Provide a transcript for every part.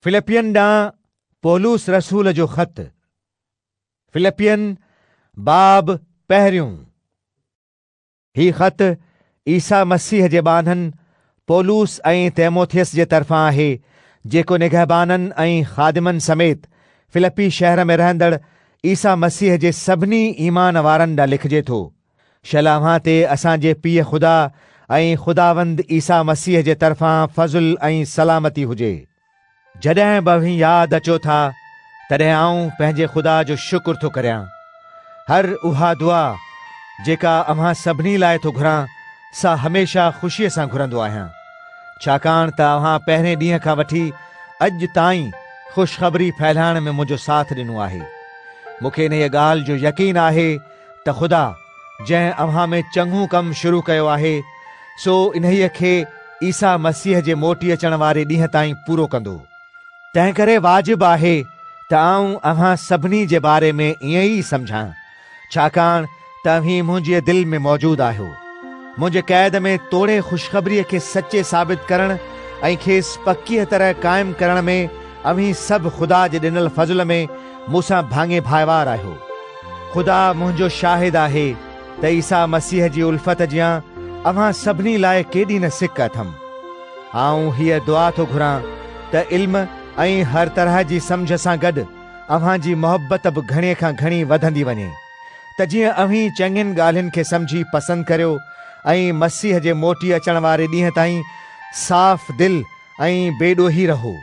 فلپين ڏانهن پولس رسول جو خط فلپين باب پهريون هي خط عيسيٰ مسيح جي ٻانهن پولس ۽ تيموٿيس جي طرفان آهي جيڪو نگهبانن ۽ خادمن سميت فلپي شهر ۾ رهندڙ عيسيٰ مسيح جي سڀني ايمان وارن ڏانهن لکجي ٿو شل اوهان تي اسان جي پيء خدا ۽ خداوند عيسيٰ مسيح جي طرفان فضل ۽ سلامتي هجي. جڏهن به اوهين ياد اچو ٿا، تڏهن آئون پنهنجي خدا جو شڪر ٿو ڪريان. هر اها دعا، جيڪا اوهان سڀني لاء ٿو گهران، سا هميشه خوشيء سان گهرندو آهيان، ڇاڪاڻ ته اوهان پهرين ڏينهن کان وٺي اڄ تائين خوشخبري ڦهلائڻ ۾ منهنجو ساٿ ڏنو آهي. مون کي انهيء ڳالهه جو يقين آهي، ته خدا جنهن اوهان ۾ چڱو ڪم شروع ڪيو آهي، سو انهيء کي عيسيٰ مسيح جي موٽي اچڻ واري ڏينهن تائين پورو ڪندو. تنهنڪري واجب آهي ته آئون اوهان سڀني جي باري ۾ ائين ئي سمجهان، ڇاڪاڻ ته اوهين منهنجيء دل ۾ موجود آهيو. منهنجي قيد ۾ توڙي خوشخبريء کي سچي ثابت ڪرڻ ۽ کيس پڪيء طرح قائم ڪرڻ ۾ اوهين سڀ خدا جي ڏنل فضل ۾ مون سان ڀاڱي ڀائيوار آهيو. خدا منهنجو شاهد آهي ته عيسيٰ مسيح جي الفت جيان اوهان سڀني لاء ڪيڏي نه سڪ اٿم. آئون هيء دعا ٿو گهران ته علم ۽ هر طرح جي سمجهه سان گڏ اوهان جي محبت به گهڻي کان گهڻي وڌندي وڃي، ته جيئن اوهين چڱين ڳالهين کي سمجهي پسند ڪريو ۽ مسيح جي موٽي اچڻ واري ڏينهن تائين صاف دل ۽ بي ڏوهي رهو.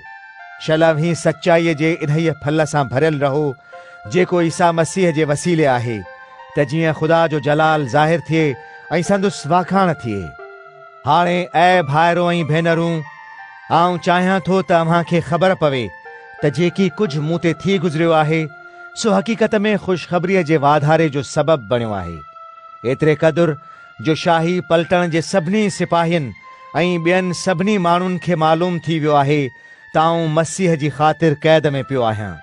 شل اوهين سچائيء جي انهيء ڦل سان ڀريل رهو، جيڪو عيسيٰ مسيح جي وسيلي آهي، ته جيئن خدا جو جلال ظاهر ٿئي ۽ سندس واکاڻ ٿئي. هاڻي اي ڀائرو ۽ ڀينرون، آئون چاهيان ٿو ته اوهان کي خبر پوي ته جيڪي ڪجهه مون تي ٿي گذريو آهي، سو حقيقت ۾ خوشخبريء جي واڌاري جو سبب بڻيو آهي، ايتري قدر جو شاهي پلٽڻ جي سڀني سپاهين ۽ ٻين سڀني ماڻهن کي معلوم ٿي ويو آهي ته آئون مسيح جي خاطر قيد ۾ پيو آهيان.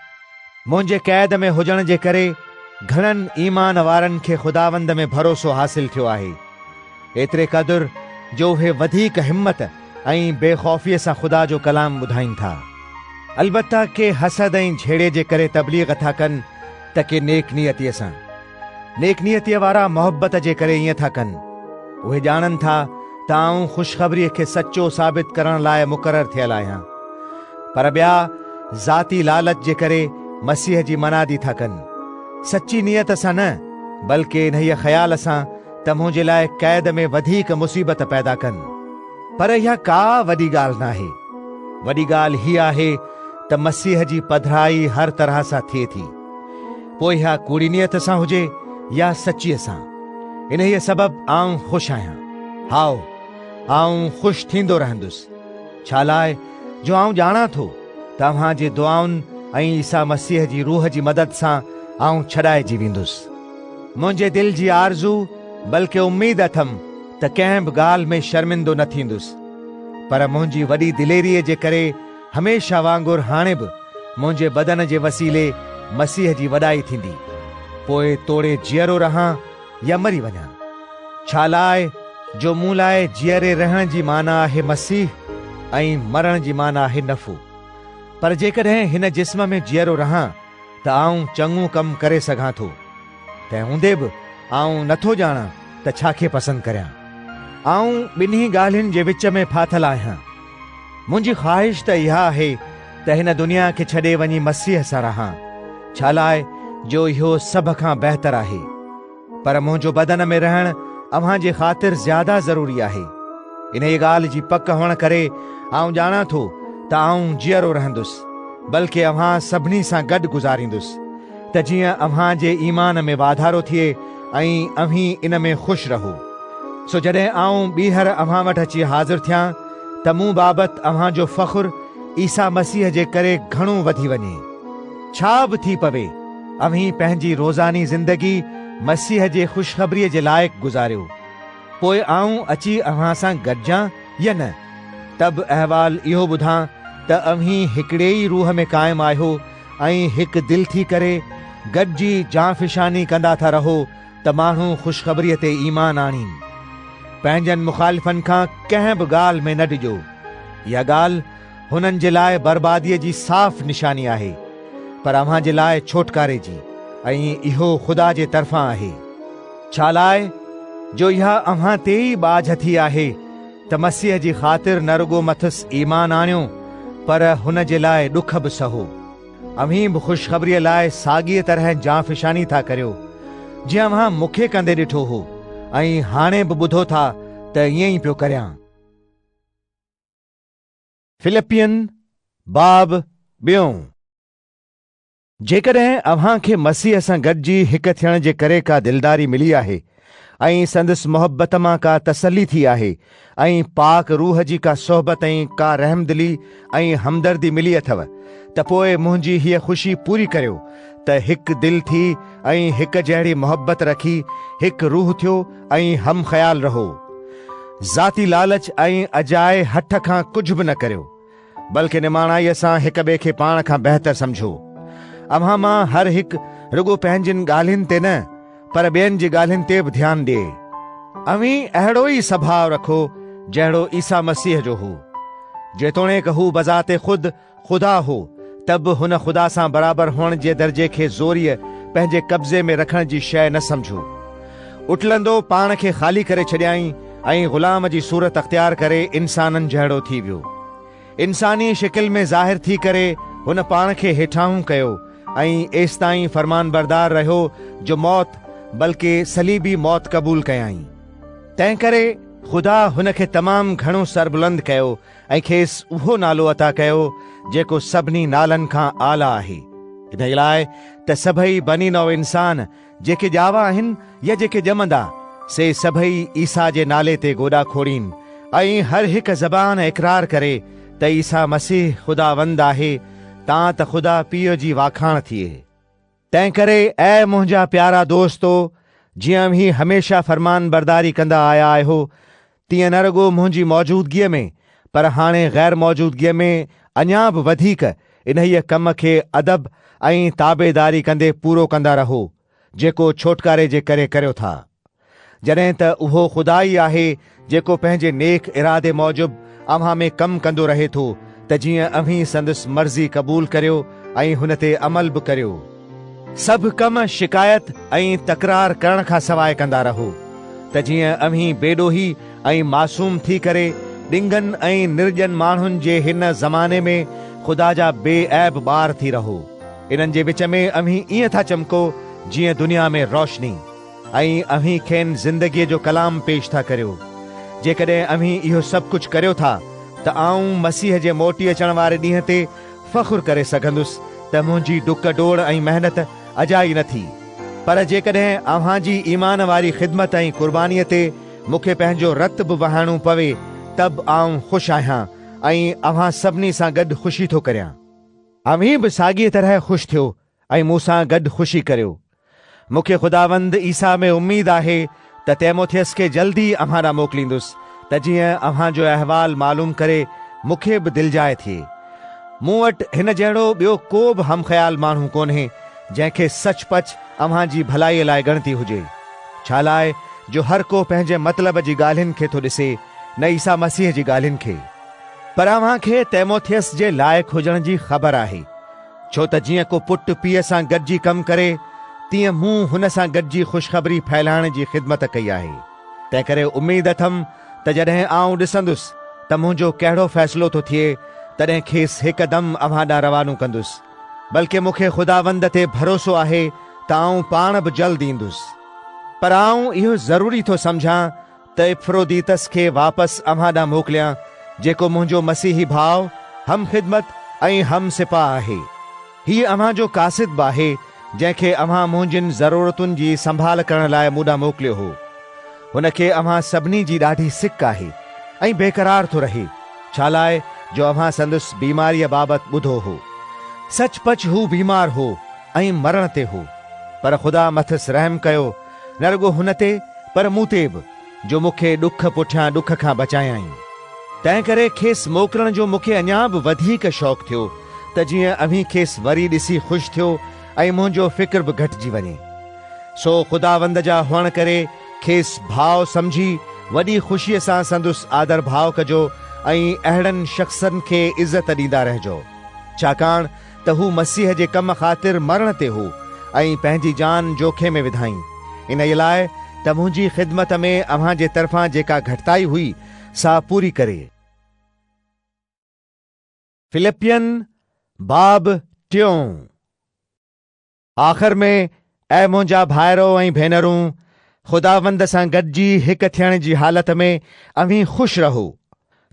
منهنجي قيد ۾ هجڻ جي ڪري گهڻن ايمان وارن کي خداوند ۾ ڀروسو حاصل ٿيو آهي، ايتري قدر جو اهي وڌيڪ همت ۽ بي خوفيء سان خدا جو ڪلام ٻڌائين ٿا. البته ڪي حسد ۽ جهيڙي جي ڪري تبليغ ٿا ڪن ته ڪي نيڪ نيتيء سان. نيڪ نيتيء وارا محبت جي ڪري ائين ٿا ڪن. اهي ڄاڻن ٿا ته آئون خوشخبريء کي سچو ثابت ڪرڻ لاء مقرر ٿيل آهيان. پر ٻيا ذاتي لالچ جي ڪري مسيح جي منادي ٿا ڪن. سچي نيت سان نه، بلڪ انهيء خيال سان ته منهنجي لاء قيد ۾ وڌيڪ مصيبت پيدا ڪن. پر اها ڪا وڏي ڳالهه ناهي. وڏي ڳالهه هيء آهي ته مسيح جي پڌرائي هر طرح سان ٿئي ٿي. پوء اها ڪوڙي نيت سان هجي يا سچيء سان، انهيء سبب آئون خوش آهيان. هائو، آئون خوش ٿيندو رهندس، ڇالاء جو آئون ڄاڻان ٿو ته اوهان جي دعائن ۽ عيسيٰ مسيح جي روح جي مدد سان آئون ڇڏائجي ويندس. منهنجي دل جي آرزو بلڪه اميد اٿم ته ڪنهن به ڳالهه ۾ شرمندو نه ٿيندس، پر منهنجي وڏي دليريء جي ڪري، هميشه وانگر هاڻي به منهنجي بدن جي وسيلي مسيح جي وڏائي ٿيندي. پوء توڙي جيئرو رهان يا مري وڃان. ڇالاء جو مون لاء جيئري رهڻ جي معنيٰ آهي مسيح ۽ مرڻ جي معنيٰ آهي نفعو. پر جيڪڏهن هن جسم ۾ جيئرو رهان ته آئون چڱو ڪم ڪري سگهان ٿو. تنهن هوندي به آئون نه ٿو ڄاڻان ته ڇا کي پسند ڪريان. آئون ٻنهي ڳالهين جي وچ ۾ ڦاٿل آهيان. منهنجي خواهش ته اها آهي ته هن دنيا کي ڇڏي وڃي مسيح سان رهان، ڇالاء جو اهو سڀ کان بهتر آهي. پر منهنجو بدن ۾ رهڻ اوهان جي خاطر زياده ضروري آهي. انهيء ڳالهه جي پڪ هئڻ ڪري آئون ڄاڻان ٿو ته آئون جيئرو رهندس، بلڪ اوهان سڀني سان گڏ گذاريندس. ته جيئن اوهان جي ايمان ۾ واڌارو ٿئي ۽ اوهين ان ۾ خوش رهو. سو جڏهن آئون ٻيهر اوهان وٽ اچي حاضر ٿيان ته مون بابت اوهان جو فخر عيسيٰ مسيح جي ڪري گهڻو وڌي وڃي. ڇا به ٿي پوي، اوهين پنهنجي روزاني زندگي مسيح جي خوشخبريء جي لائق گذاريو. پوء آئون اچي اوهان سان گڏجان يا نه، ته به احوال اهو ٻڌان ته اوهين هڪڙي ئي روح ۾ قائم آهيو، ۽ هڪ دل ٿي ڪري گڏجي جانفشاني ڪندا ٿا رهو ته ماڻهو خوشخبريء تي ايمان آڻين. پنهنجن مخالفن کان ڪنهن به ڳالهه ۾ نه ڊڄو. اها ڳالهه هنن جي لاء برباديء جي صاف نشاني آهي، پر اوهان جي لاء ڇوٽڪاري جي ۽ اهو خدا جي طرفان آهي. ڇالاء جو اها اوهان تي ئي ٻاجهه ٿي آهي. ته مسيح جي خاطر نه رڳو مٿس ايمان آڻيو پر هن جي لاء ڏک به سهو. اوهين به خوشخبريء لاء ساڳيء طرح جانفشاني ٿا ڪريو، جيئن اوهان مون کي ڪندي ڏٺو هو ۽ هاڻي به ٻڌو ٿا ته ائين ئي پيو ڪريان. فلپين، باب ٻيون. جيڪڏهن اوهان کي مسيح سان گڏجي هڪ ٿيڻ جي ڪري ڪا دلداري ملي آهي ۽ سندس محبت مان ڪا تسلي ٿي آهي ۽ پاڪ روح جي ڪا صحبت ۽ ڪا رحمدلي ۽ همدردي ملي اٿو ته پوء منهنجي هيء خوشي پوري ڪريو ته هڪ دل ٿي ۽ هڪ جهڙي محبت رکي هڪ روح ٿيو ۽ هم خيال رهو ذاتي لالچ ۽ اجائي هٺ کان ڪجهه به نه ڪريو. بلڪه نماڻائيء سان هڪ ٻئي کي پاڻ کان بهتر سمجهو. اوهان مان هر هڪ رڳو پنهنجين ڳالهين تي نه پر ٻين جي ڳالهين تي به ڌيان ڏئي. اوهين اهڙو ئي سڀاء رکو جهڙو عيسيٰ مسيح جو هو. جيتوڻيڪ هو بذات خود خدا هو ته به هن خدا سان برابر هئڻ جي درجي کي زوريء پنهنجي قبضي ۾ رکڻ جي شيء نه سمجهو. اٽلندو پاڻ کي خالي ڪري ڇڏيائين ۽ غلام جي صورت اختيار ڪري انسانن جهڙو ٿي ويو. انساني شڪل ۾ ظاهر ٿي ڪري هن پاڻ کي هيٺاهون ڪيو ۽ ايستائين فرمانبردار رهيو جو موت بلڪه صليبي موت قبول ڪيائين. تنهنڪري خدا هن کي تمام گهڻو سربلند ڪيو ۽ کيس اهو نالو عطا ڪيو جيڪو سڀني نالن کان اعليٰ آهي، انهيء لاء ته سڀئي بني نوع انسان، جيڪي ڄاوا آهن يا جيڪي ڄمندا، سي سڀئي عيسيٰ جي نالي تي گوڏا کوڙين ۽ هر هڪ زبان اقرار ڪري ته عيسيٰ مسيح خداوند آهي تان ته خدا پيء جي واکاڻ ٿئي. تنهنڪري اي منهنجا پيارا دوستو، جيئن اوهين هميشه فرمانبرداري ڪندا آيا آهيو، تيئن نه رڳو منهنجي موجودگيء ۾ پر هاڻي غير موجودگيء ۾ اڃا به وڌيڪ انهيء ڪم کي ادب ۽ تابعداري ڪندي پورو ڪندا رهو، جيڪو ڇوٽڪاري جي ڪري ڪريو ٿا. جڏهن ته اهو خدا ئي آهي جيڪو پنهنجي نيڪ ارادي موجب اوهان ۾ ڪم ڪندو رهي ٿو ته جيئن اوهين سندس مرضي قبول ڪريو ۽ هن تي عمل به ڪريو. سڀ ڪم شڪايت ۽ تڪرار ڪرڻ کان سواء ڪندا رهو ته جيئن اوهين بيڏوهي ۽ معصوم ٿي ڪري ڏنگن ۽ نرڄن ماڻهن جي هن زماني ۾ خدا جا بي عيب ٻار ٿي رهو. انهن جي وچ ۾ اوهين ائين ٿا چمڪو جيئن دنيا ۾ روشني ۽ اوهين کين زندگيء جو ڪلام پيش ٿا ڪريو. جيڪڏهن اوهين اهو سڀ ڪجهه ڪريو ٿا ته آئون مسيح جي موٽي اچڻ واري ڏينهن تي فخر ڪري سگهندس ته منهنجي ڊڪ ڊوڙ ۽ محنت اجائي نه ٿي، پر جيڪڏهن اوهان جي ايمان واري خدمت ۽ قربانيء تي مون کي پنهنجو رت به وهائڻو پوي ته به آئون خوش آهيان ۽ اوهان سڀني سان گڏ خوشي ٿو ڪريان. اوهين به ساڳيء طرح خوش ٿيو ۽ مون سان گڏ خوشي ڪريو. مون کي خداوند عيسيٰ ۾ اميد آهي ته تيموٿيس کي جلد ئي اوهان ڏانهن موڪليندس، ته جيئن اوهان جو احوال معلوم ڪري مون کي به دلجاء ٿئي. مون وٽ هن جهڙو ٻيو ڪو به هم خيال ماڻهو ڪونهي، جنهن کي سچ پچ اوهان جي ڀلائيء لاء ڳڻتي هجي. ڇالاء جو هر ڪو پنهنجي مطلب جي ڳالهين کي ٿو ڏسي، نه عيسيٰ مسيح جي ڳالهين کي. پر اوهان کي تيموٿيس جي لائق هجڻ جي خبر آهي. ڇو ته جيئن ڪو پٽ پيء سان گڏجي ڪم ڪري، تيئن مون هن سان گڏجي خوشخبري ڦهلائڻ جي خدمت ڪئي آهي. تنهنڪري اميد اٿم ته جڏهن آئون ڏسندس ته منهنجو ڪهڙو فيصلو ٿو ٿئي، تڏهن کيس هڪدم اوهان ڏانهن روانو ڪندس. بلڪه مون کي خداوند تي ڀروسو آهي ته آئون پاڻ به جلد ايندس. پر آئون اهو ضروري ٿو سمجهان ته افروديتس کي واپس اوهان ڏانهن موڪليان، جيڪو منهنجو مسيحي ڀاء، هم خدمت ۽ هم سپاه آهي. هيء اوهان جو قاصد به آهي، جنهن کي اوهان منهنجين ضرورتن جي سنڀال ڪرڻ لاء مون ڏانهن موڪليو هو. هن کي اوهان سڀني جي ڏاڍي سڪ آهي ۽ بيقرار ٿو رهي، ڇالاء جو اوهان سندس بيماريء بابت ٻڌو هو. سچ پچ هو بيمار هو ۽ مرڻ تي هو، پر خدا مٿس رحم ڪيو، نه رڳو هن تي پر مون تي به جو مون کي ڏک پٺيان ڏک کان بچايائين. تنهن ڪري کيس موڪلڻ جو مون کي اڃا به وڌيڪ شوق ٿيو ته جيئن اوهين کيس وري ڏسي خوش ٿيو ۽ منهنجو فڪر به گهٽجي وڃي. سو خداوند جا هئڻ ڪري کيس ڀاء سمجهي وڏي خوشيء سان سندس آڌرڀاء ڪجو ۽ اهڙن شخصن کي عزت ڏيندا رهجو. ڇاڪاڻ ته هو مسيح جي ڪم خاطر مرڻ تي هو ۽ پنهنجي جان جوکي ۾ وڌائين، انهيء لاء ته منهنجي خدمت ۾ اوهان جي طرفان جيڪا گهٽتائي هئي، سا پوري ڪري. فلپين باب ٽيون. آخر ۾ اي منهنجا ڀائرو ۽ ڀينرون! خداوند سان گڏجي هڪ ٿيڻ جي حالت ۾ اوهين خوش رهو.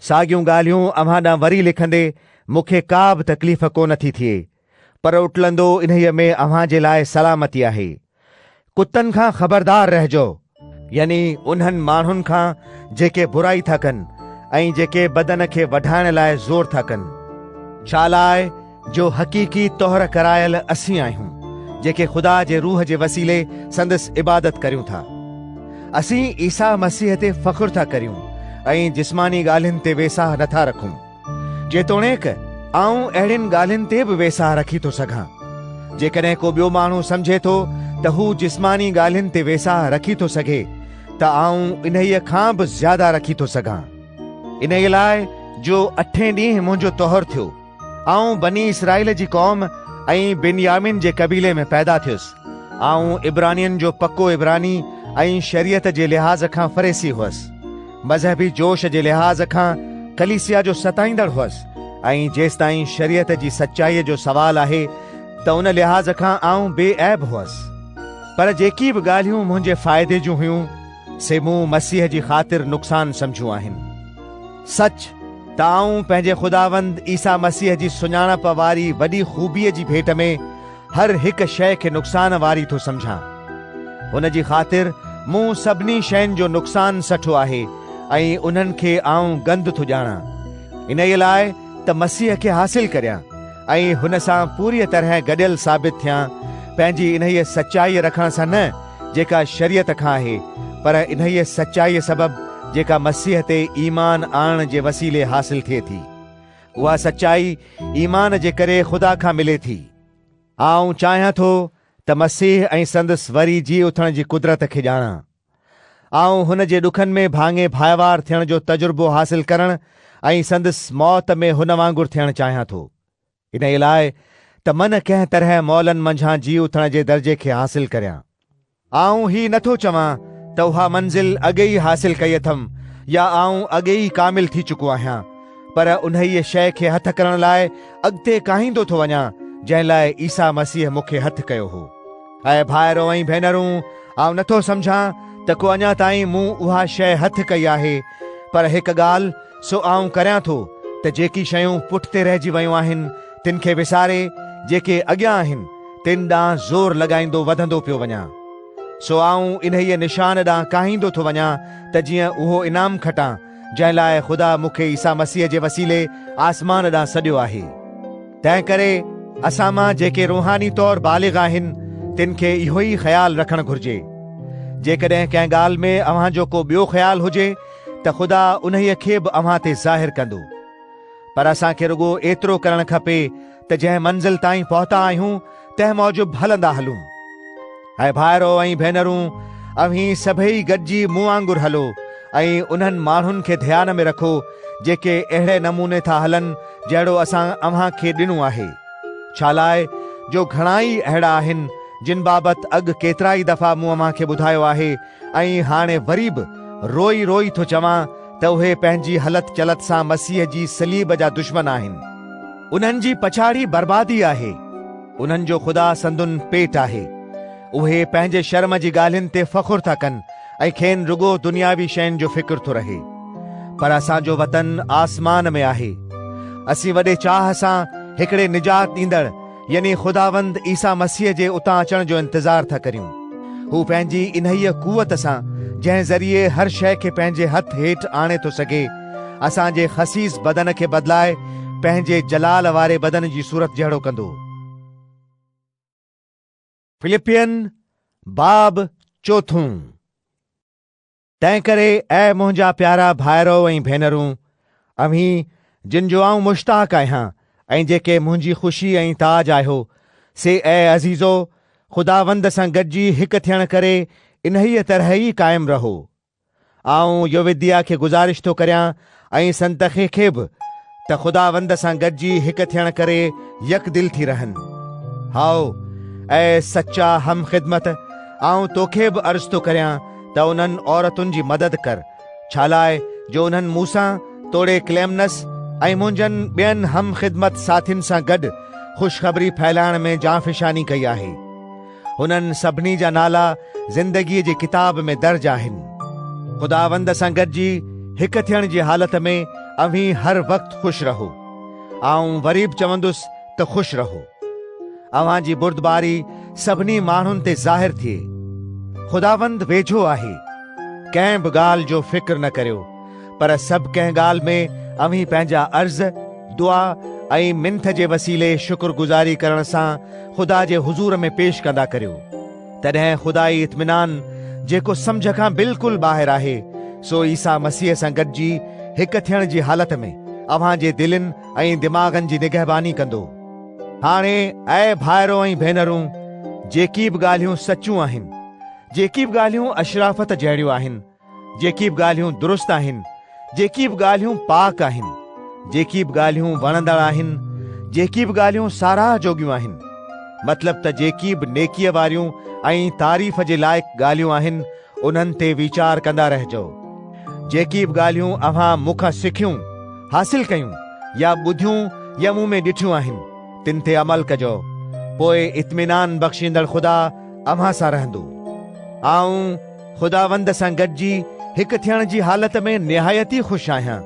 ساڳيون ڳالهيون اوهان ڏانهن وري لکندي مون کي ڪا به تڪليف ڪونه ٿي ٿئي، پر اٽلندو انهيء ۾ اوهان جي لاء سلامتي آهي. ڪتن کان خبردار رهجو. يعني انهن ماڻهن کان جيڪي برائي ٿا ڪن ۽ جيڪي بدن کي وڍائڻ لاء زور ٿا ڪن. ڇالاء جو حقيقي طهر ڪرايل اسين آهيون، جيڪي خدا جي روح جي وسيلي سندس عبادت ڪريون ٿا. اسين عيسيٰ مسيح تي فخر ٿا ڪريون ۽ جسماني ڳالهين تي ويساهه نٿا رکون. جيتوڻيڪ آئون اهڙين ڳالهين تي به ويساهه رکي ٿو سگهان. جيڪڏهن ڪو ٻيو ماڻهو سمجهي ٿو ته هو جسماني ڳالهين تي ويساهه رکي ٿو سگهي ته آئون انهيء کان به زياده رکي ٿو سگهان. انهيء لاء جو اٺين ڏينهن منهنجو طهر ٿيو، آئون بني اسرائيل جي قوم ۽ بنيامين جي قبيلي ۾ پيدا ٿيس. آئون عبرانين جو پڪو عبراني ۽ شريعت جي لحاظ کان فريسي هئس. مذهبي جوش جي لحاظ کان ڪليسيا جو ستائيندڙ هئس ۽ جيستائين شريعت جي سچائيء جو سوال آهي ته ان لحاظ کان آئون بي عيب هئس. پر جيڪي به ڳالهيون منهنجي فائدي جون هيون، سي مون مسيح جي خاطر نقصان سمجهيون آهن. سچ ته آئون پنهنجي خداوند عيسيٰ مسيح جي سڃاڻپ واري وڏي خوبيء جي ڀيٽ ۾، هر هڪ شيء کي نقصان واري ٿو سمجهان. ان جي خاطر مون سڀني شين جو نقصان سٺو آهي ۽ انهن کي آئون گند ٿو ڄاڻان، انهيء لاء ته مسيح کي حاصل ڪريان ۽ هن سان پوريء طرح گڏيل ثابت ٿيان، پنهنجي انهيء سچائيء رکڻ سان نه، جيڪا شريعت کان آهي، پر انهيء سچائيء سبب، جيڪا مسيح تي ايمان آڻڻ جي وسيلي حاصل ٿئي ٿي. اها سچائي ايمان جي ڪري خدا کان ملي ٿي. آئون چاهيان ٿو ته مسيح ۽ سندس وري جي اٿڻ جي قدرت کي ڄاڻان. آئون هن جي ڏکن ۾ ڀاڱي ڀائيوار ٿيڻ جو تجربو حاصل ڪرڻ ۽ سندس موت ۾ هن وانگر ٿيڻ چاهيان ٿو. انهيء لاء ته من ڪنهن طرح مئلن منجهان جي اٿڻ جي درجي کي حاصل ڪريان. آئون هي نه ٿو چوان ته اها منزل اڳي ئي حاصل ڪئي اٿم يا آئون اڳي ئي ڪامل ٿي چڪو آهيان، پر انهيء شيء کي هٿ ڪرڻ لاء اڳتي ڪاهيندو ٿو وڃان، جنهن لاء عيسيٰ مسيح مون کي هٿ ڪيو هو. اي ڀائرو ۽ ڀينرون، آئون نه ٿو سمجهان ته ڪو اڃا تائين مون اها شيء هٿ ڪئي آهي، پر هڪ ڳالهه، سو آئون ڪريان ٿو ته جيڪي شيون پٺتي رهجي ويون آهن تن کي وساري جيڪي اڳيان آهن تن ڏانهن زور لڳائيندو وڌندو پيو وڃان. سو آئون انهيء نشان ڏانهن ڪاهيندو ٿو وڃان ته جيئن اهو انعام کٽان جنهن لاء خدا مون کي عيسيٰ مسيح جي وسيلي آسمان ڏانهن سڏيو آهي. تنهنڪري اسان مان جيڪي روحاني طور بالغ آهن تن کي اهوئي خيال رکڻ گهرجي. جيڪڏهن ڪنهن ڳالهه ۾ اوهان جو ڪو ٻيو خيال هجي ته خدا انهيء کي به اوهان تي ظاهر ڪندو. پر اسان کي رڳو ايترو ڪرڻ کپي ته جنهن منزل تائين پهتا آهيون، تنهن موجب هلندا هلون. اي ڀائرو ۽ ڀينرون، اوهين سڀيئي گڏجي مون وانگر هلو، ۽ انهن ماڻهن کي ڌيان ۾ رکو، جيڪي اهڙي نموني ٿا هلن، جهڙو اسان اوهان کي ڏنو آهي. ڇالاء جو گهڻائي اهڙا آهن، جن بابت اڳ ڪيترائي دفعا مون اوهان کي ٻڌايو آهي، ۽ هاڻي وري به روئي روئي ٿو چوان ته اهي پنهنجي هلت چلت سان مسيح جي صليب جا دشمن آهن. انهن جي پڇاڙي بربادي آهي. انهن جو خدا سندن پيٽ آهي. اهي پنهنجي شرم جي ڳالهين تي فخر ٿا ڪن ۽ کين رڳو دنياوي شين جو فڪر ٿو رهي. پر اسان جو وطن آسمان ۾ آهي. اسين وڏي چاهه سان هڪڙي نجات ڏيندڙ، يعني خداوند عيسيٰ مسيح جي اتان اچڻ جو انتظار ٿا ڪريون. هو پنهنجي انهيء قوت سان، جنهن ذريعي هر شيء کي پنهنجي هٿ هيٺ آڻي ٿو سگهي، اسان جي خسيس بدن کي بدلائي پنهنجي جلال واري بدن جي صورت جهڙو ڪندو. فلپين باب چوٿون. تنهن ڪري اي منهنجا پيارا ڀائرؤ ۽ ڀينرون، اوهين جن جو آئون مشتاق آهيان ۽ جيڪي منهنجي خوشي ۽ تاج آهيو، سي اي عزيزؤ، خداوند سان گڏجي هڪ ٿيڻ ڪري انهيء طرح ئي قائم رهو. آئون يووديا کي گذارش ٿو ڪريان ۽ سنت کي کي به ته خداوند سان گڏجي هڪ ٿيڻ ڪري يڪدل ٿي رهن. هائو، اي سچا هم خدمت، آئون تو کي به عرض ٿو ڪريان ته انهن عورتن جي مدد ڪر، ڇالاء جو انهن مون سان توڙي ڪليمنس ۽ منهنجن ٻين هم خدمت ساٿين سان گڏ خوشخبري ڦهلائڻ ۾ جانفشاني ڪئي آهي. هنن سڀني جا نالا زندگيء جي ڪتاب ۾ درج آهن. خداوند سان گڏجي هڪ ٿيڻ جي حالت ۾ اوهين هر وقت خوش رهو. آئون وري به چوندس ته خوش رهو. اوهان جي بردباري سڀني ماڻهن تي ظاهر ٿئي. خداوند ويجهو آهي. ڪنهن به ڳالهه جو فڪر نه ڪريو. پر سڀ ڪنهن ڳالهه ۾ اوهين پنهنجا عرض، دعا ۽ منٿ جي وسيلي شڪر گذاري ڪرڻ سان خدا جي حضور ۾ پيش ڪندا ڪريو. تڏهن خدائي اطمينان، جيڪو سمجهه کان بلڪل ٻاهر آهي، سو عيسيٰ مسيح سان گڏجي هڪ ٿيڻ جي حالت ۾ اوهان جي دلين ۽ دماغن جي نگهباني ڪندو. هاڻي اي ڀائرو ۽ ڀينرون، جيڪي به ڳالهيون سچيون آهن، جيڪي به ڳالهيون اشرافت جهڙيون آهن، جيڪي به ڳالهيون درست آهن، جيڪي به ڳالهيون پاڪ آهن، جيڪي به ڳالهيون وڻندڙ آهن، جيڪي به ڳالهيون ساراهه جوڳيون آهن، مطلب ته جيڪي به نيڪيء واريون ۽ تعريف جي لائق ڳالهيون آهن، انهن تي ويچار ڪندا رهجو. جيڪي به ڳالهيون اوهان مون کان سکيون، حاصل ڪيون يا ٻڌيون يا مون ۾ ڏٺيون آهن، تن تي عمل ڪجو، پوء اطمينان بخشيندڙ خدا اوهان سان رهندو. آئون خداوند سان گڏجي هڪ ٿيڻ جي حالت ۾ نهايت ئي خوش آهيان،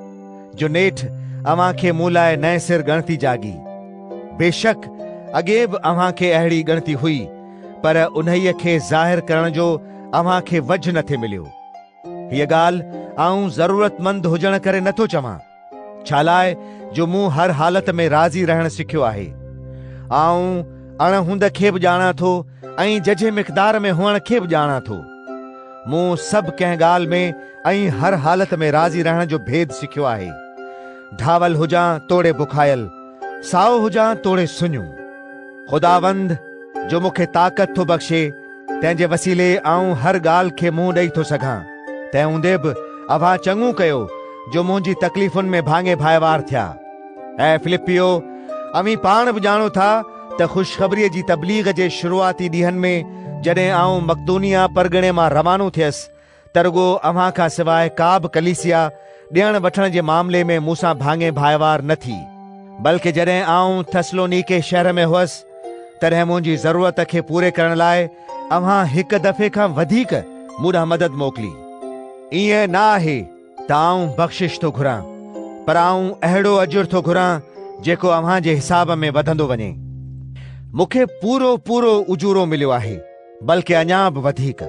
جو نيٺ اوهان کي مون لاء نئين سر ڳڻتي جاڳي. بيشڪ اڳي به اوهان کي اهڙي ڳڻتي هئي، پر انهيء کي ظاهر ڪرڻ جو اوهان کي وجهه نٿي مليو. هيء ڳالهه آئون ضرورتمند هجڻ ڪري نٿو چوان، ڇالاء جو مون هر حالت ۾ راضي رهڻ سکيو آهي. آئون اڻ هوند کي به ڄاڻان ٿو ۽ ججهي مقدار ۾ هئڻ کي به ڄاڻان ٿو. مون سڀ ڪنهن ڳالهه ۾ ۽ هر حالت ۾ راضي رهڻ جو ڀيد سکيو آهي. ڍاول هجان توڙي بکايل، سائو هجان توڙي سڃو. خداوند، جو مون کي طاقت ٿو بخشي، تنهن جي وسيلي آئون هر ڳالهه کي منهن ڏئي ٿو سگهان، تنهن هوندي به اوهان چڱو ڪيو، جو منهنجي تڪليفن ۾ ڀاڱي ڀائيوار ٿيا. اي فلپيو، اوهين پاڻ به ڄاڻو ٿا، ته خوشخبريء جي تبليغ جي شروعاتي ڏينهن ۾، جڏهن آئون مڪدونيه پرڳڻي مان روانو ٿيس، ته رڳو اوهان کان سواء ڪا به ڪليسيا ڏيڻ وٺڻ جي معاملي ۾ مون سان ڀاڱي ڀائيوار نه ٿي، بلڪ جڏهن آئون ٿسلونيڪي شهر ۾ هوس، تڏهن منهنجي ضرورت کي پوري ڪرڻ لاء اوهان هڪ دفعي کان وڌيڪ مون ڏانهن مدد موڪلي. ائين نه آهي ته آئون بخشش ٿو گهران، پر آئون اهڙو اجر ٿو گهران جيڪو اوهان جي حساب ۾ وڌندو وڃي. مون کي پورو پورو اجورو مليو آهي، بلڪ اڃا به وڌيڪ.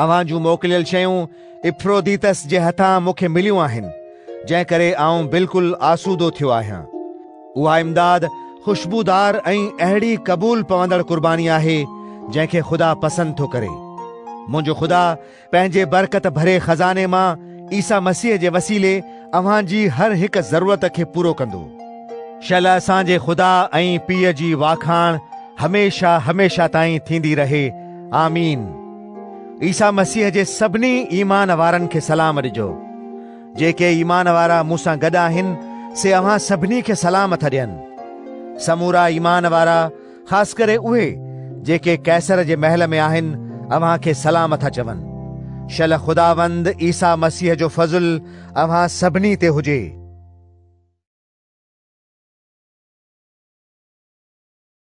اوهان جون موڪليل شيون ايفروديتس جي هٿان مون کي مليون آهن، جنهن ڪري آئون بلڪل آسودو ٿيو آهيان. اها امداد خوشبودار ۽ اهڙي قبول پوندڙ قرباني آهي، جنهن کي خدا پسند ٿو ڪري. منهنجو خدا پنهنجي برڪت ڀري خزاني مان عيسيٰ مسيح جي وسيلي اوهان جي هر هڪ ضرورت کي پورو ڪندو. شل اسان جي خدا ۽ پيء جي واکاڻ هميشه هميشه تائين ٿيندي رهي. آمين عيسيٰ مسيح جي سڀني ايمان وارن کي سلام ڏجو. جيڪي ايمان وارا مون سان گڏ آهن سي اوهان سڀني کي سلام ٿا ڏين. سمورا ايمان وارا خاص ڪري اهي جيڪي قيصر جي محل ۾ آهن اوهان کي سلام ٿا چون. شل خداوند عيسيٰ مسيح جو فضل اوهان سڀني تي هجي.